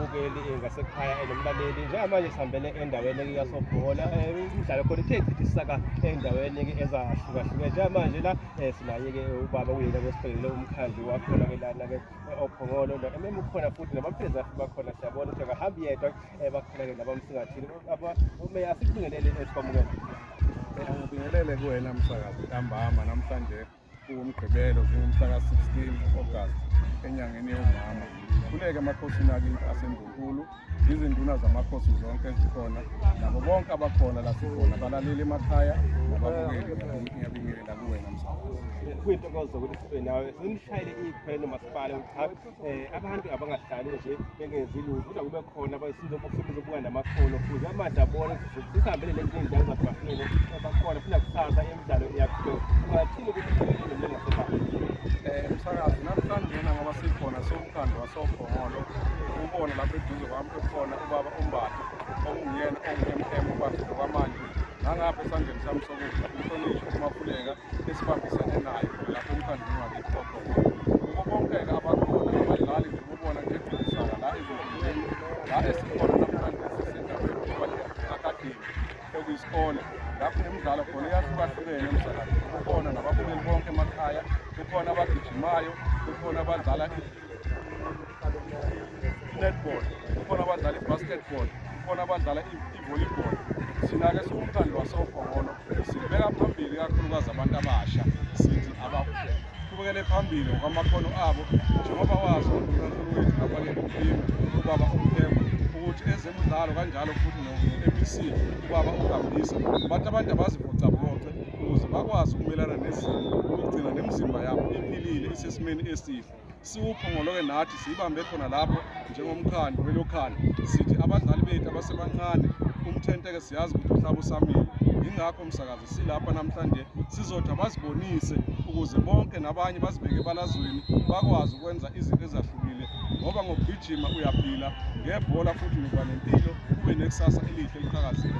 umbukeli eh, ngasekhaya enomlaleli eh, njengamanje sihambele endaweni yasobhola eh, umdlalo khona ithe chithi isaka endaweni ezahlukahlukene njengamanje la sinaye-ke ubaba kuyena kwesiphelele umkhandlu wakhona-ke lana-ke ophongolo mm ukhona futhi nabamphezi bakhona siyabona ukuthi akahambi yedwa bakhona-ke nabamsingathile umeya asibingelele esibamukela ngibingelele kuwena msakazi ntambama namhlanje kuwumgqibelo zingumhla ka-16 August enyangeni yomama khuleke emakhosini akini aseNdlunkulu izinduna zamakhosi zonke ezikhona nabo bonke abakhona lasikhona balaleli emakhaya nababukeli ngiyabingelela kuwena msakazi kuyintokozo ukuthi sibe nawe simshayele ikhwelo masipale uchathi eh abantu abangahlali nje bengenzi lutho kodwa kube khona abasiza bafuna ukubuka namakhono futhi amanje abona sisihambele lezi ndawo zabahlele abakhona funa kusasa emidlalo iyakhona ungathini ukuthi kukhona ngasebani eh umsakazi namhlanje yena ngoba sikhona somkhandlu wasokhongolo ubona lapho eduze kwami kukhona ubaba umbatha okunguyena ongu-mm ubaba kwamanje nangapha esandleni sami sokudla umhlonishwa umaphuleka esibambisene naye lapho umkhandlu ungakikhona isikole lapho imidlalo khona iyahlukahlukene emsakazweni kukhona nababukeli bonke emakhaya kukhona abagijimayo kukhona abadlala i-netball kukhona abadlala i-basketball kukhona abadlala volleyball thina-ke siwumkhandlu wasobhongolo sibeka phambili kakhulukazi abantu abasha sithi abaqhubekele phambili ngokwamakhono abo njengoba wazi unkulunkulu wethu kabalele uphimi ubaba umphemba ukuthi ezemidlalo kanjalo futhi no-mec ubaba ugambisa bathi abantu abazivocavoce ukuze bakwazi ukumelana nezimo ukugcina nemizimba yabo iphilile isesimeni esihle siwuphongoloke nathi siyibambe khona lapho njengomkhandlu welokhali sithi abadlali bethu abasebancane umthenteke siyazi ukuthi uhlaba usamile yingakho msakazi silapha namhlanje sizothi abazibonise ukuze bonke nabanye bazibeke ebalazweni bakwazi ukwenza izinto ezahlukile ngoba ngokugijima uyaphila ngebhola futhi uba nempilo ube nekusasa elihle eliqhakazile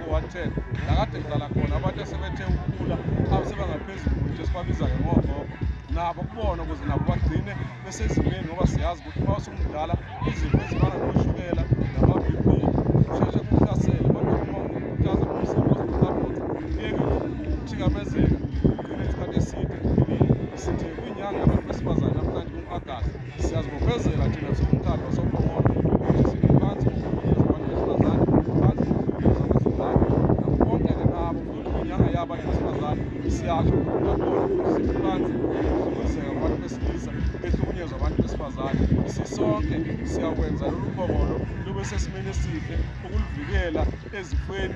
110 nakade ngidlala khona abantu esebethe ukukhula asebangaphezulu ukuthi esibabiza ngemogogo nabo kubona ukuze nabo bagcine besezimeni ngoba siyazi ukuthi uma usumdala izifo ezifana noshukela nama-bp usheshe kuhlasele kodwa uma uhlaza umzimba oziqabutha kuyeke ukuthikamezeka ugcine isikhathi eside empilweni sithe kwinyanga yabantu besifazane namhlanje kumagasi Siyazibophezela thina singumkhandlu wasoPhongolo ukuthi sime phansi ngokukhulisa abantu besifazane, phansi ngokukhulisa kwezingane nabo bonke ke nabo futhi ngenyanga yabo abantu besifazane siyasho ngokubona ukuthi sime phansi ngokuhlukumezeka kwabantu besilisa behlukunyezwa abantu besifazane. Sisonke siyakwenza lolu phongolo lube sesimeni esihle ukuluvikela ezifweni